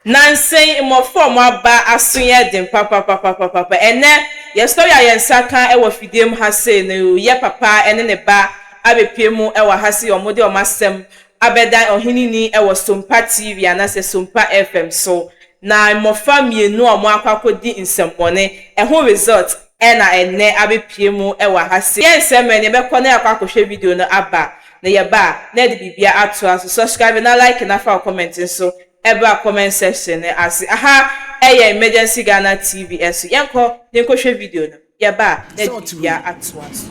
Nnansa yi, mmofra a wɔaba aso yɛ den papapapapapa. Ɛnnɛ, yɛn sɔre a yɛn nsa ka wɔ fidiem ha sei no yɛ papa ne ne ba abepue mu wɔ ha sɛ wɔde wɔn asɛm abɛdan Ɔheneni wɔ Sompa TV anaasɛ Sompa FM so, na mmofra mmienu a wɔakɔ akɔdi nsɛmmɔne ho result. Ɛna ɛnnɛ abɛpue mu wɔ ha sei. Yɛ nsɛ mmerɛ na yɛbɛkɔ na yɛakɔ akɔhwɛ video no aba na yɛba a na yɛde biribiara atoa so. Subscribe na like na fa wo comment nso bra comment section no ase. Aha yɛ Emergency Ghana TV so. Yɛnkɔ na yɛnkɔhwɛ video no, yɛba a na yɛde biribiara atoa so.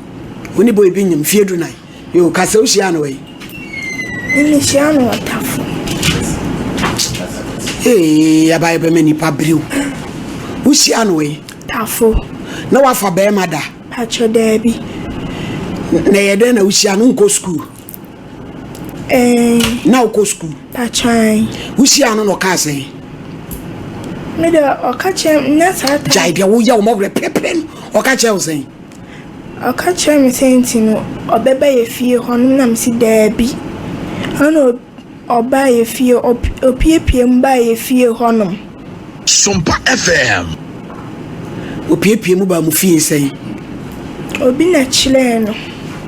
Wo ne boy bi nyem mfie du nan. Yo, ka sɛ wohyia no wɛn. Mehyia no wɔ tafo. Ee, abayɛ bɛma nipa biriw. Wohyia no wɛn. Tafo. Na wafa bɛrima da. Pakyɛ daabi. Na ɛyɛ dɛn na wohyia no nkɔ sukuu. Na wokɔ sukuu. Pakyan. Wohyia no na ɔka sɛn. Mede ɔka kyerɛ nyɛ saa ta. Gyae deɛ woyɛ wɔn ɔwerɛ pɛpɛ no ɔka kyerɛ wo sɛn. Ɔka kyerɛɛ me sɛ nti no ɔbɛba yɛ fie hɔ nom na mese daabi. Ɛna ɔ ɔbaa yɛ fie ɔp ɔpiepie mu baa yɛ fie hɔ nom. Sompa FM. Ɔpiepie mu baa mo fie sɛn? Obi na kyerɛɛ no.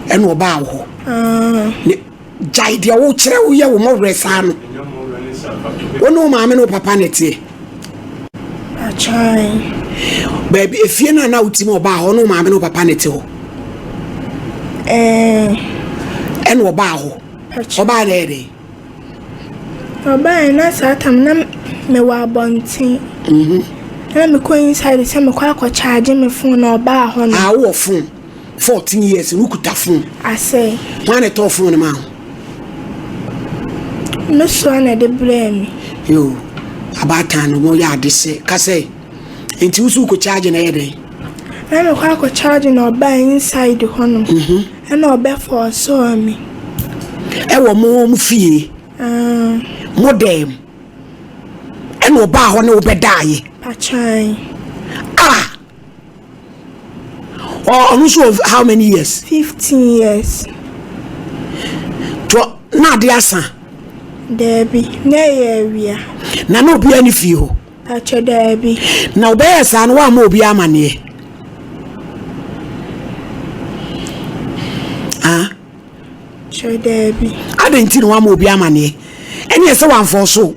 Ɛna ɔbaa wo hɔ? Aah. Ne. Gyae deɛ wokyerɛ woyɛ wo mmɔwerɛ saa no. Wo ne wo maame ne wo papa na ɛteɛ. Akyan. Baabi efie no a na wotim ɔbaa hɔ ne wo maame ne wo papa na ɛte hɔ. Ɛɛ. Ɛna ɔbaa hɔ. Ɔbaa dɛ dɛ. Ɔbaa na saa tam na mewɔ abɔnten. Mhm. Na mekɔ inside sɛ mekɔ akɔ charge me phone na ɔbaa hɔ no. Ah, wɔ phone. 14 years wokuta fon. Asɛe. Hwan na ɛtɔɔ fon no maa wo? Me soa na ɛde brɛɛ me. Yo, abaatan no wɔyɛ ade sɛ kasɛ. Nti wo so wokɔ charge na ɛyɛ dɛn? Na mekɔ akɔ charge na ɔbaa inside hɔ no. Mhm. Ɛna ɔbɛ fɔɔsɔɔ me. Ɛwɔ mo mo fie. Ah. Mo dɛm. Ɛna ɔbaa hɔ ne wobɛdaeɛ. Patwaan. Ah! Ɔ ɔno nso wɔ how many years? Fifteen years. Tɔ na ade asa. Daabi, na ɛyɛ awia. Na na obiara ne fie hɔ. Atwɛ daabi. Na ɔbɛyɛ saa no woamma obiara amaneɛ. Ah. Atwɛ daabi. Adɛn nti na woamma obiara amaneɛ? Ɛneɛ sɛ wamfɔɔ so.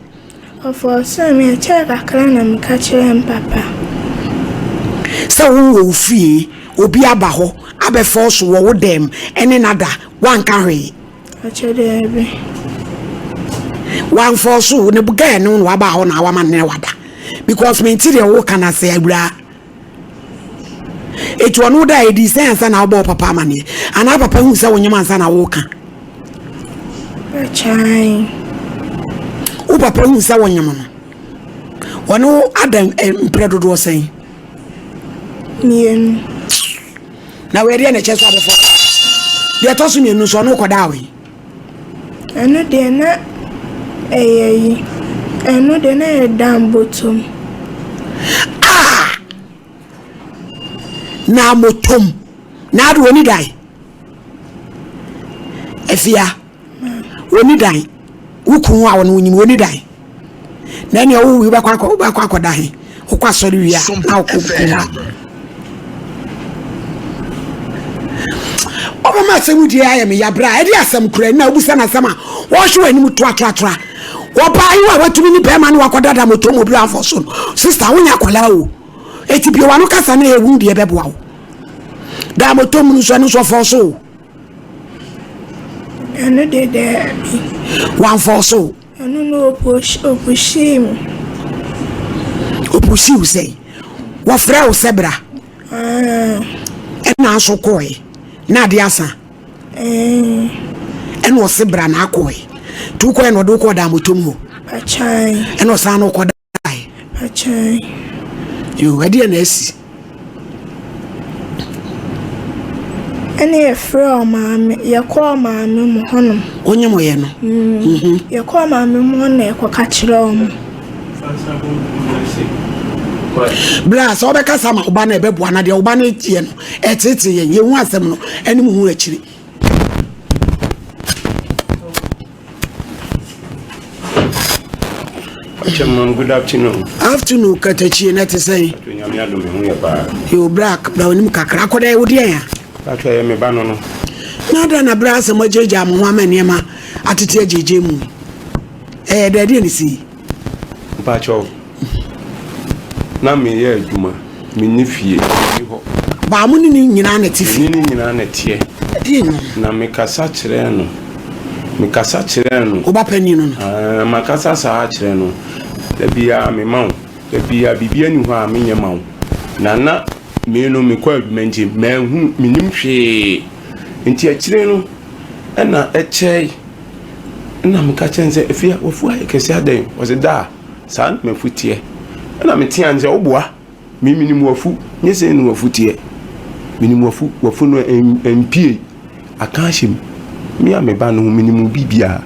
Ɔfɔɔsee me, ɛkyɛɛ kakra na meka kyerɛɛ me papa. Sɛ wo wɔ wo fie, obi aba hɔ abɛfɔɔso wɔ wo dɛm ne no ada, woanka hwee? Ɔkyɛ daabi. Woanfɔɔso wo ne gɛɛ no na waba hɔ na wama ne no ada? Because mente deɛ woka no ase awuraa. Eti ɔno wo da edi sɛ ansa na wobɔ wo papa amaneɛ anaa papa hu sɛ wonyem ansa na woka wo papa hu sɛ wonyem no ɔne wo ada eh, mprɛ dodoɔ sɛn mmienu na wɔadeɛ na ɛkyɛ sɛ abɛfɔ deɛ ɛtɔ so mmienu nso ɔno wokɔdaa wei Ɛno deɛ na ɛyɛ yi, ɛno deɛ na ɛyɛ Dan Botom. Ah! Na motom. Na ade wɔni dan. Afia, wɔni dan. Wo kunu a wɔne wo nyim, wɔni dan. na nea ɔwo wie bɛkɔ akɔ wobɛkɔ akɔda he wokɔ asɔre wie a na wokɔ kum a ɔbɛma asɛm die ayɛ me yabra ɛde asɛm kura na wobusa no asɛm a wɔhwe wɔ anim toatoatoa wɔbaa yi a watumi ne bɛrima no wakɔdada motɔ mu obira afɔ so no sista wonyɛ akwadaa o ɛti bio wano kasa no yɛ hu deɛ bɛboa wo daa motɔ mu no so ɛno nso ɔfɔ so o ɛno de daabi wɔamfɔ so Ɔno na ɔpushii me. Ɔpushii wo sɛn? Wɔfrɛɛ wo sɛ bra? Ɛɛ. Ɛna nso kɔɔe na ade asa? Ɛɛ. Ɛna ɔse bra na akɔɔe. Nti wokɔɔe na ɔde wo kɔɔ Damotom hɔ? Akyae. Ɛna ɔsan na ɔkɔ da. kae. Akyɛe. Yoo, ɛdeɛ na asi. Ɛne yɛfrɛ ɔmaame, yɛkɔ ɔmaame mu hɔnom. Wonye mo yɛ no? Mm. Mhm. Yɛkɔ ɔmaame mu hɔ na yɛkɔ ka kyerɛ ɔmo. Bla sɛ wobɛkasa ma woba no ɛbɛboa na deɛ woba no yɛ no ɛtete yɛn yɛhu asɛm no ɛne mu hu akyiri Chairman, good afternoon. Afternoon, Katachi, na te sɛn? Nyame adom ho yɛ paa. Yo, Black, bra onim kakra akɔda wo deɛ ya. Black yɛ me ba no no. Na da na bra asɛm agyagya mo ho ama nneɛma atete agyagya mu. Ɛyɛ dɛ deɛ ne si. Mpakyɛw, na meyɛ adwuma, menni fie, menni hɔ. Baa mo ne ne nyinaa na ɛte fie. Me ne ne nyinaa na ɛteɛ. Ɛdeɛ no. Na mekasa kyerɛɛ no, mekasa kyerɛɛ no. Oba panin no no. Ɛɛ, makasa saa kyerɛ no, da biara mema wo, da biara biribi ani hɔ a menyɛ ma wo. Na na me no mekɔ adwuma nti, manhunu, mennim hwee. Nti akyire no, ɛna ɛkyɛe. Nna meka kyerɛ no sɛ, Afie a woefuw ayɛ kɛse adɛn? Ɔse, Daa, saa na m'efuw tseɛ. Nna metsea no sɛ, Wo boa, me minyim w'afuw, nye sei na w'afuw tseɛ. Minyim w'afuw, w'afuw no emmpue, akã ahyɛ mu. Me a me ba no, minyim wo biribiara,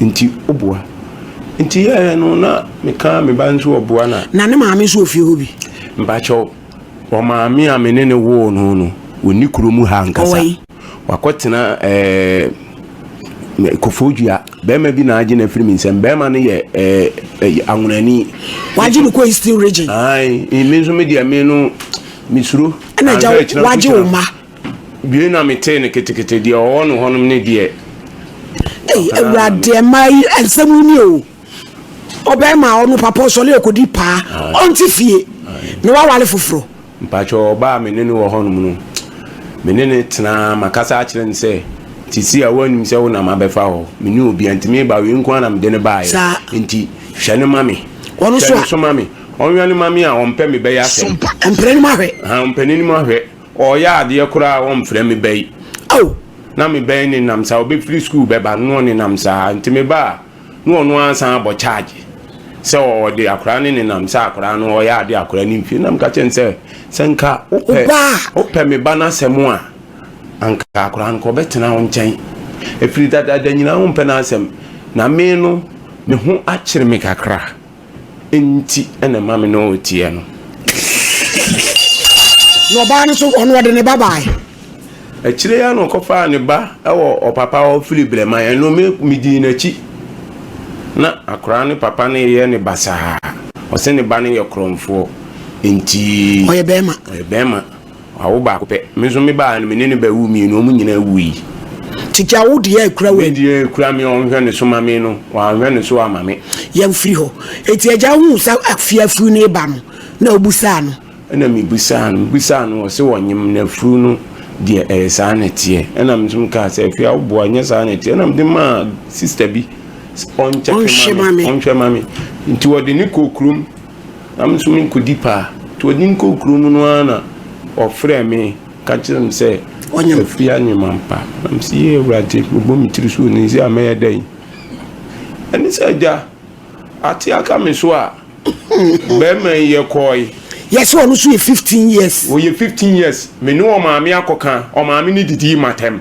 ntsi wo boa. Ntsi yɛɛ no na meka me ba no so ɔboa na. Na ne maame so wɔ fie hɔ bi? Mpakyɛw, ɔmaame a me ne no woo no no, onni kurow mu ha ankasa. Ɔwɔ he? Wakɔtena ɛɛ kofoo dua. Bɛrima bi na agye no afiri me nsam. Bɛrima no yɛ ɛɛ anwonani. Wagye no kɔ Eastern region. Ayi, mi nso mi deɛ mi no mi suro. Ɛna gya wagye wo ma. Bie na mi te ne ketekete deɛ ɔwɔ no hɔnom ne deɛ. Ee, awurade ɛmaa yi nsɛm yi ni o. Ɔbɛrima ɔno papa ɔsɔre ɔkɔdi paa. Ɔnte fie na wawale foforɔ. Mpakyɛw ɔbaa a me ne no wɔ hɔnom no, me ne no tena ara, makasa akyerɛ no sɛ, Te sei a, woannim sɛ wo na mabɛfa hɔ? Menni obi a nti mereba, wei nko ara na mede no baeɛ, enti hwɛ no ma me, hwɛ no so ma me, ɔnwɛn no ma me a ɔmpɛ me bɛyɛ asɛm. Ɔmpɛ n'anim ahwɛ. Ahaa, ɔmpɛ n'anim ahwɛ. Ɔreyɛ adeɛ koraa a, ɔmfrɛ me bɛ yi. Ao! Ná me bɛ yi nenam saa, ɔbɛfiri sukuu bɛba, na ɔnenam saa. Enti meba a. na ɔno ara san abɔ charge sɛ ɔde akwadaa no nenam sɛ akwadaa no ɔyɛ ade akwadaa no mfie nam ka kyɛn sɛ sɛ nka wopɛ wopɛ me ba n'asɛm a anka akwadaa no kɔ ɔbɛtena wo nkyɛn efiri dadaada nyinaa wompɛ n'asɛm na me no me ho akyere me kakra. Nti na ɛma me ne wo teɛ no. Na ɔbaa no nso, ɔno ɔde ne ba baeɛ. Akyire yi ara na ɔkɔfaa ne ba wɔ ɔpapa hɔ firi Brɛman, ɛno me, medii n'akyi. Na akwadaa no papa no reyɛ no basaa. Ɔse ne ba no yɛ korɔmfoɔ, nti. Ɔyɛ bɛrima. Ɔyɛ bɛrima. Wawo baako pɛ. Me nso me ba a me ne no bɛwo mmienu, wɔn nyinaa wuui. Tete awodie a ɛkura wo ani. Deɛ ɛkura me a ɔnhwɛ ne so ma me no, wanhwɛ ne so amma me. Yɛn firi hɔ. Enti agya huu sɛ afie afuru no reba no, na ɔbisaa no. Ɛna mebisaa no, mebisaa no, ɔse wɔnyem no afuru no deɛ ɛyɛ saa na ɛteɛ. Ɛna me nso mekaa sɛ, Afie a woboa nyɛ saa na ɛteɛ. Ɛna mede maa sister bi sɛ ɔnkyɛke ma me, ɔnhwɛ ma me. Nti ɔde no kɔɔ kurom. Na me nso merekɔdi paa. Nti ɔde me kɔɔ kuro mu no ara na ɔfrɛɛ me ka kyerɛɛ me sɛ, Afiri anyem ampa? Na mese, Yei Awurade, mebɔ me tiri so onii sɛ a mɛyɛ dɛn? Ɛne sɛ, Agya, ate aka me so a, barima yi yɛkɔɔe. Yɛse ɔno nso yɛ 15 years. Ɔyɛ 15 years. Me ne ɔmaame akɔka, ɔmaame no didii m'atɛm.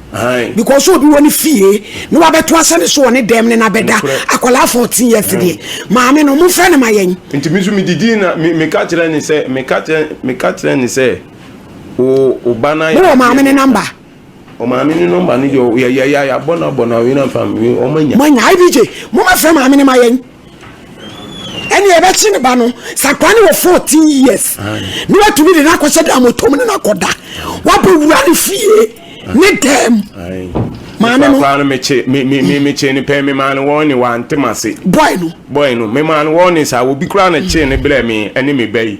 because obi wɔ ne fie na wabɛto asɛ ne so wɔ ne dɛm ne na bɛda akwadaa fourteen years deɛ maame no mofrɛ ne ma yɛn. nti mi nso mi didi na mi mi ka kyerɛ ne sɛ mi ka kyerɛ mi ka kyerɛ ne sɛ o o ba na yɛ. mo wɔ maame ne namba. o maame ne nɔmba ne deɛ yɛ yɛ yɛ abɔ na abɔ na wei na nfa mi wɔn anya. mo anya ibj mo ma fɛ maame ne ma yɛn. ɛne ɛbɛkye ne ba no sɛ akora ne wɔ 14 years ne watumi de no akɔhyɛ da mɔtɔm ne no akɔda wabɔ wura ne fie ne dɛm maame no papa no mekye me me me mekye ne pɛn me maa no wɔn ne wante ma se bɔe no bɔe no me maa no wɔn ne saa obi kura na kye ne brɛ me ɛne me ba yi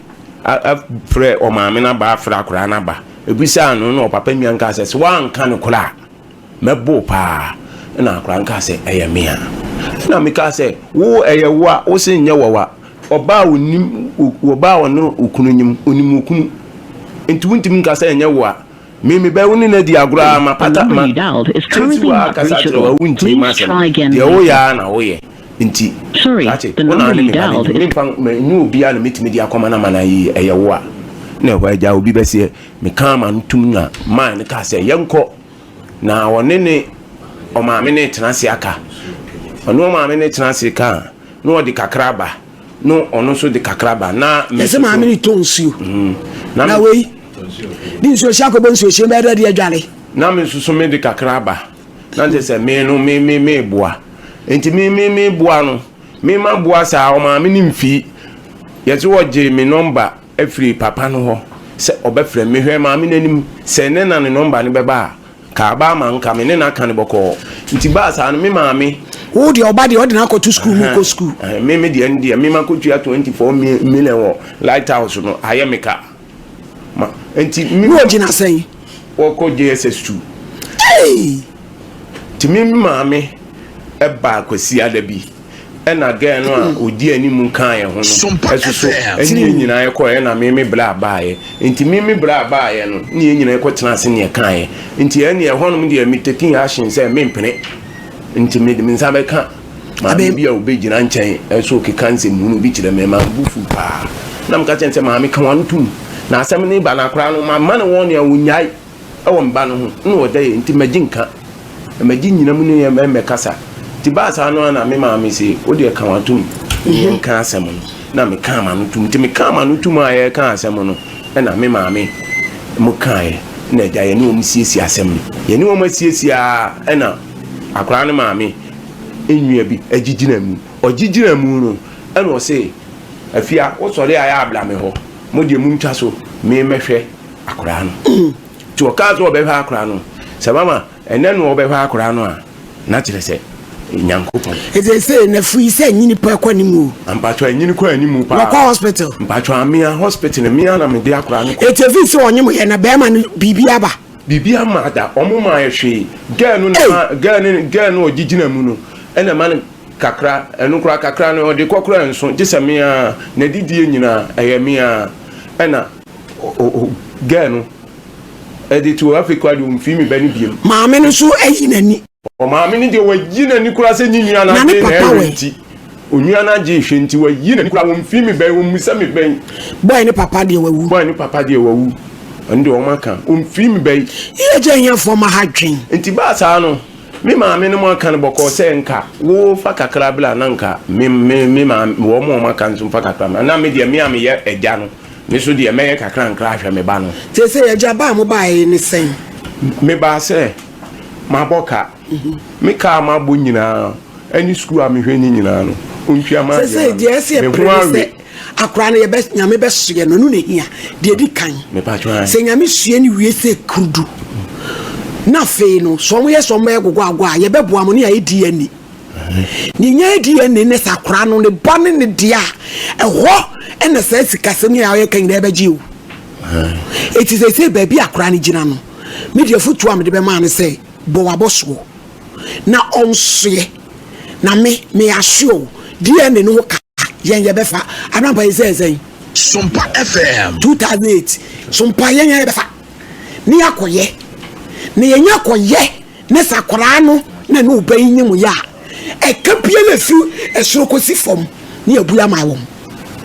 frɛ ɔmaame no aba afrɛ akoraa no aba ɛbisaa no na ɔpapa nua nkaa sɛ sɛ woanka no korɔ a mɛboo paa na akoraa nkaa sɛ ɛyɛ me a na mekaa sɛ wo ɛyɛ wo a wo se nyɛ wɔwa ɔbaa ɔnim ɔbaa ɔne okunu nyim onim okunu nti wontimi nka sɛ ɛnyɛ wo a Me mebɛwo ne no adi agorɔ aa mapata ma Katie wɔ aa kasa kyerɛ wa wo ntie masɛm deɛ wo yɛ aa na wo yɛ nti Katie wo na ne me ba no nti me mfa ma ɛnyɛ obi aa na mɛtumi de akɔma no ama no ayɛ yie ɛyɛ wo a na ɛhɔ agya obi bɛseɛ me kaa ma no tum na maa no kaa sɛ yɛnkɔ na ɔne ne ɔmaame no retena ase aka ɔne ɔmaame no retena ase kaa na ɔde kakra ba. no ɔno nso de kakra ba na mɛsɛ maame ne tɔ nsuo mm. na wei de nsuo hyɛ akɔbɔ nsuo hyɛ bɛyɛ dɛ de adware na me nso so me de kakra ba na nkyɛ sɛ me no me me me boa nti me me me boa no me ma boa saa ɔmaame ne mfii yɛsɛ wɔgye me nɔmba afiri papa no hɔ sɛ ɔbɛfrɛ me. Mehwɛɛ Maame no anim sɛ ne na ne nɔmba no bɛba a, nka aba ama nka me ne no aka no bɔkɔɔ. Nti baa saa no, me Maame. Wo deɛ ɔba deɛ ɔde no akɔto sukuu mu kɔ sukuu. Me me deɛ no deɛ me makɔtua twenty four million wɔ Light House no, ayɛ me ka. Ma nti me. Na ɔgyina sɛn? Ɔkɔ JSS two. Ei! Nti me Maame baa Kwasiada bi. ɛna gɛɛ no a ɔdi hmm. anim kaeɛ ho no ɛsoso ɛne yɛ nyinaa ɛkɔɛ ɛna meme berɛ a baeɛ nti meme berɛ a baeɛ no ne yɛ nyinaa ɛkɔ tena ase neɛ kaeɛ nti ɛne ɛhɔnom deɛ me taking action sɛ mempene nti mede me nsa bɛka maame bi a ɔbɛgyina nkyɛn ɛso keka nsɛm hunu bi kyerɛ me ma mbu fu paa na meka kyɛn sɛ maame ka wano tom na asɛm ne ba no akora no mama ne wɔn nea wɔnyae wɔ me ba no ho na ɔda yie nti magye nka. Magye nnyina mu ne yɛn mmɛkasa. Nti baa saa no ara na me maame se, wo deɛ ka w'atom ne yɛn nka asɛm no. Na mekaa m'ano tum. Nti mekaa m'ano tum a yɛreka asɛm no na me maame mo kaeɛ na agya yɛne wɔn siesie asɛm no. Yɛne wɔn asiesie ara na akwadaa no maame nnua bi agyigyina mu. Ɔgyigyina mu no na ɔse, Afia, wosɔre a yɛ a bra me hɔ. Mo deɛ montwa so, me mmɛhwɛ. akoraa no. Nti wɔkaa sɛ wɔbɛhwɛ akoraa no. Sɛ mama ɛnɛ no wɔbɛhwɛ akoraa no a, na kyerɛ sɛ Nyankopɔn. Ɛsɛ sɛ na firi sɛ nyini paa kɔ anim o. Ampatwa nyini kɔ anim paa. Wɔkɔ hospital. Mpatwa amea hospital mea na mede akoraa no kɔ. Ɛti firi sɛ ɔnyem yɛ na bɛɛma no biribi aba. Biribi ama ada ɔmo maa yɛ hwee. Girl no na ma girl no girl no ɔgye gyina mu no ɛna ɛma no kakra ɛno koraa kakra no ɔde kɔ koraa nso gye sɛ mea na didie nyinaa ɛyɛ mea ɛna. Girl no ɛde to afei kura deɛ ɔmfii me bɛ no biem. Maame no nso ayi n'ani. Maame no deɛ wayi n'ani kura sɛ nyi nua na de na ɛwɛ nti. Onua no agye ehwɛ nti wayi n'ani kura ɔmfii me bɛn ɔmmisa me bɛn. Boy ne papa deɛ wawu. Boy ne papa deɛ wawu. Ɛno deɛ wɔn aka ɔmfii me bɛn. Yɛ gya ahiafoɔ ma ha dwen. Nti baa saa no me maame no mo aka no bɔkɔɔ sɛ nka wo fa kakra bla na nka me me me maame wɔn wɔn aka nso mfa kakra mmra na me deɛ me a meyɛ ɛgya no. Me nso deɛ, mɛyɛ kakrankra ahwɛ me ba no. Seesei, agya, ba a mobaeɛ yi ne sɛn? Mebaa sɛ mabɔ ka. Me ka a mabɔ nyinaa ne sukuu a mehwɛ no nyinaa no, ɔntua m'adeɛ ma me. Seesei, deɛ ɛsɛ sɛ yɛpere ne sɛ akwadaa no, yɛbɛ, Nyame bɛsoɛ no, ɛno na ɛhia. Deɛ ɛdi kan, sɛ Nyame soɛ no wie sɛ kurudu, na afei no, sɛ wɔyɛ sɛ wɔbɛyɛ gogoagoa a, yɛbɛboa mo, ne ayɛ DNA. Nea ɛnya adi yɛ ne ne saa akwadaa no ne ba ne ne dea a, ɛhɔ na saa sikasɛm yi a ɔyɛ ka nyinaa bɛgye o. Eti sɛsɛ baabi a akwadaa no gyina no, me deɛ afotuo a mede bɛma no sɛ bɔ w'abɔsoɔ na ɔnsoɛ. Na me, me asoɛ o, DNA no ho ka. yɛn yɛ bɛfa anampa yi sɛ ɛsɛn. sompa fm. two thousand eight sompa yɛn yɛ bɛfa ne yɛ akɔyɛ na yɛn yɛ akɔyɛ ne sakoraa no na ne ɔbɛ yi nye mu yɛ a ɛka bia na fi ɛsoro kɔsi fam ne yɛ bu ama wɔn.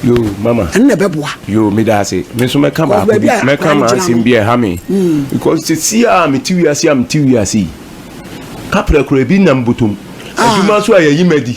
yo mama ɛno na ɛbɛboa yo meda ase me nso mɛka baako bi mɛka ma asɛm bi ɛha me hmm. because sɛsi a mete wiase a mete wiase yi kaprɛ kora bi nam botom ah. adwuma so a yɛyi madi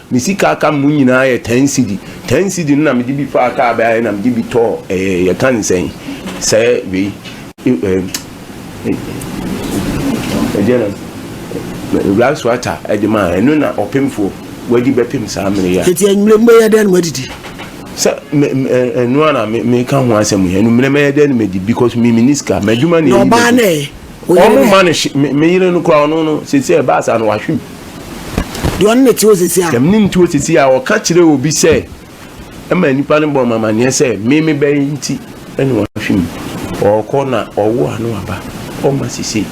Me sika a aka mu nyinaa yɛ ten cedi. Ten cedi no na mede bi faa kaa bɛa yɛ na mede bi tɔɔ ɛɛ yɛka ne sɛn sɛ wei ɛɛ ɛdeɛ na Ewura Suata ɛde maa ɛno na ɔpemfoɔ wadi bɛpem saa mmere yi a. Eti enyimire mobɛyɛ dɛn na moadidi? Sɛ me me ɛnoa na me meka ho asɛm yi, anwummerɛ mɛyɛ dɛn na madi because me menni sika, m'adwuma na ɛyi m'adi. Na ɔbaa no ɛ? Wo yere Ɔmo ne. ma no hye me me yere no koraa ɔno no sese ɛbaa saa no wahwe mu. Deɛ ɔne ne te hɔ sisi a. Deɛ me ne no te hɔ sisi a ɔka kyerɛ obi sɛ ɛma nnipa no bɔ me amaneɛ sɛ me me bɛyɛ nti ɛna wahwe mu. Ɔɔkɔ na ɔwo a no aba ɔma sese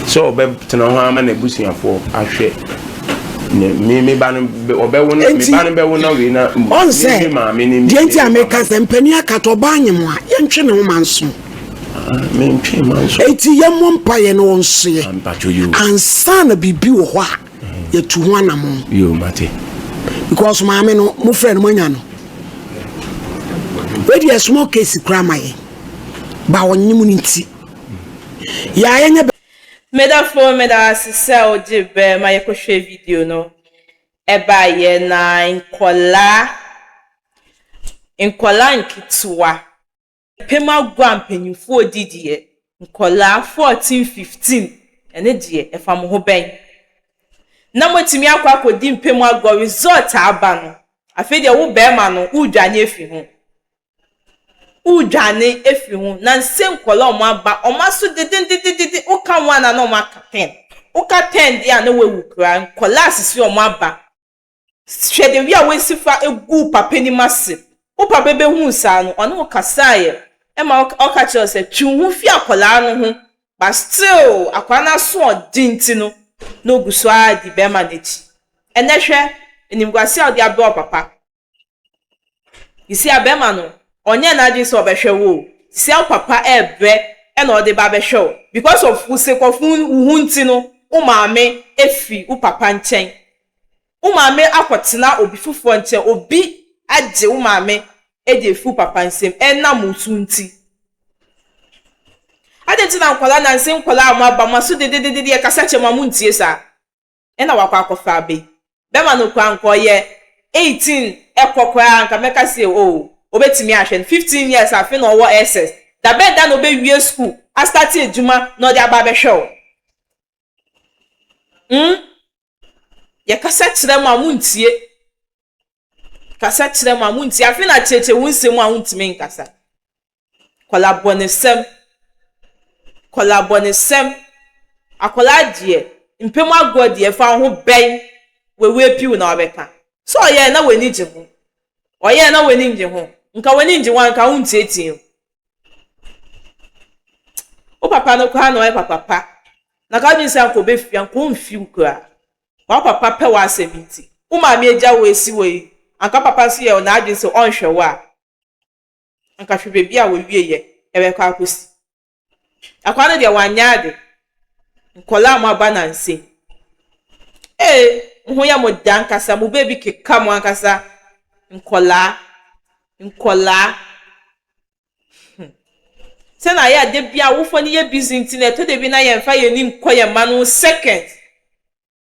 sɛ ɔbɛ tena hɔ ama na abusuafoɔ ahwɛ ne me me ba no ɔbɛ wo na me ba no bɛ wo na wei na me me maame ne me. Deɛ nti a me ka sɛ mpanin akata ɔbaa nyem a yɛntwe ne ho ma nso. Enti yɛmmɔ mpaeɛ na ɔnsoɛ ansa na biribi wɔ hɔ a yɛtu ho anamɔn because maame no mo frɛ no moanya no wei deɛ small case koraa ma yɛ ba ɔnye mu no nti yɛ a yɛnyɛ Medafo meda ase sɛ wogye bɛ ma yɛkɔhwɛ video no ɛbaeɛ na nkɔlaa nkɔlaa nketewa Yɛpem agua mpanyimfoɔ di deɛ nkwadaa fourteen, fifteen, ɛno deɛ ɛfa mo ho bɛn? Na moatumi akɔ akɔdi mpem agua result aba no afei deɛ wo barima no woredwane afiri ho woredwane afiri ho na nse nkwadaa a wɔaba wɔn aso dedendedede woka one a na wɔaka ten woka ten deɛ a na woawu koraa nkwadaa sisi wɔn aba Hwɛ dɛ wi a woesi fa guu papa enyim ase. Wo papa behun saa no, ɔnye wo kasae ma ɔka kyerɛɛ wo sɛ, Twe wo ho fi akwadaa no ho. But still, akwadaa no asoɔden ntsi no, nna ogu so ara dzi bɛrima no ekyir. Ndɛ hwɛ, enyimguase a ɔdze abrɛ wo papa. Isia bɛrima no ɔnyɛɛ n'adwene sɛ ɔbɛhwɛ wo o, sia wo papa ɛɛbrɛ ɛna ɔde ba abɛhwɛ wo because of wo sekɔfo wo ho nti no wo maame ɛfiri wo papa nkyɛn wo maame akɔtena obi foforɔ nkyɛn obi agye wo maame ɛde afiri wo papa nsam ɛnam wo so nti adɛn nti na nkwadaa nanse nkwadaa a mo aba mo aso dededede ɛkasa kyerɛ mo a mo ntie saa. na wakɔ akɔfa aba yi. Bɛma no kwan nka ɔyɛ eighteen kɔ koraa anka mɛka se oh obetumi ahwɛ no, fifteen years afei na ɔwɔ SS, da bɛn da na obewie school a start adwuma na ɔde aba abɛhwɛ wo? Hmm? Yɛkasa kyerɛ mo a montie. Kasa kyerɛ mo a montie. Afei na akyerɛkyerɛ wo nsɛm a wontumi nkasa. Kɔlabɔnesɛm Kɔlabɔnesɛm Akwadaa deɛ, mpɛ mu agorɔ deɛ ɛfa wo ho bɛn? W'awu apue wo na wabɛka. Sɛ ɔyɛɛ na w'ani gye ho? Ɔyɛɛ na w'ani nnye ho? Nka w'ani ngye ho a nka wonteetee wo. Wo papa no koraa na ɔyɛ papa pa na nka wodwene sɛ anka ɔbɛfiri anka ɔmfiri wo koraa. W'apapa pɛ w'asɛm nti. Wo maame agya wo asi hɔ yi, anka papa nso yɛ n'adwene sɛ ɔnhwɛ wo a. anka hwɛ baabi a wɔawieɛ ɛbɛkɔ akɔsi. Akwaa no deɛ wanyɛ ade, nkwadaa a wɔaba nnansa yi, ee, mo ho yɛ mo dɛ ankasa, mo baabi keka mo ankasa, nkwadaa, nkwadaa, hmm. Sɛ na ayɛ a da bi awofoɔ no yɛ busy nti na ɛtɔ da bi na yɛmfa yɛn anim nkɔ yɛn mma no ho seconds.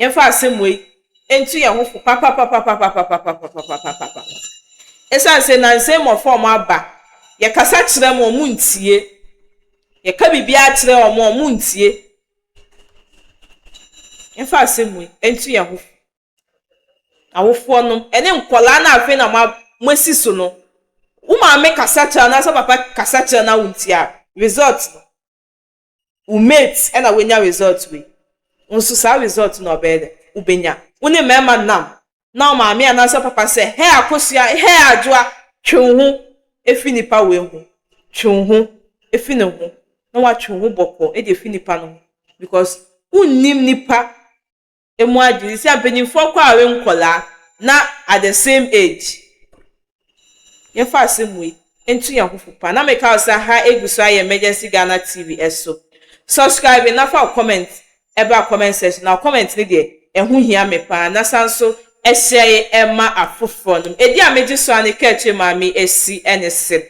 Yɛmfa asɛm wei ntu yɛn ho fo papapapapapapapapapapapapapa. Esiane sɛ nnansa yi mmɔfra a wɔaba, yɛkasa kyerɛ wɔn, wɔntie, yɛka biribiara kyerɛ wɔn a, wɔntie. Yɛmfa asɛm wei ntu yɛn ho fo. Awofoɔnom, ɛne nkwadaa no a afei na moa, moasi so no, wo maame kasa kyerɛ wo anaasɛ wo papa kasa kyerɛ wo na wontie a, result no, Wo mate na wanya result wei, wo nso saa result na ɔbɛyɛ dɛn? Wobɛnya. Wo ne mmarima nam na wo maame anaasɛ wo papa sɛ, Hɛɛ Akosua, hɛɛ Adwoa, twe wo ho firi nipa wei ho, twe wo ho firi ne ho, na woatwe wo ho bɔkɔɔ de afiri nipa no ho because wonnim nipa emu adze yi sɛ mpanyimfoɔ kɔawe nkɔlaa na at the same age yɛmfa asɛm wei nto yɛn ho fo paa na meka wo sɛ ha egu so ayɛ emergency Ghana TV ɛso subscribe na fa wo comment ɛbra comment section na wo comment no deɛ ɛho hia me paa na san so ɛhyɛ ye ɛma afoforɔ nom ɛdi a megye so a ne kaakyire maa me ɛsi ɛne se.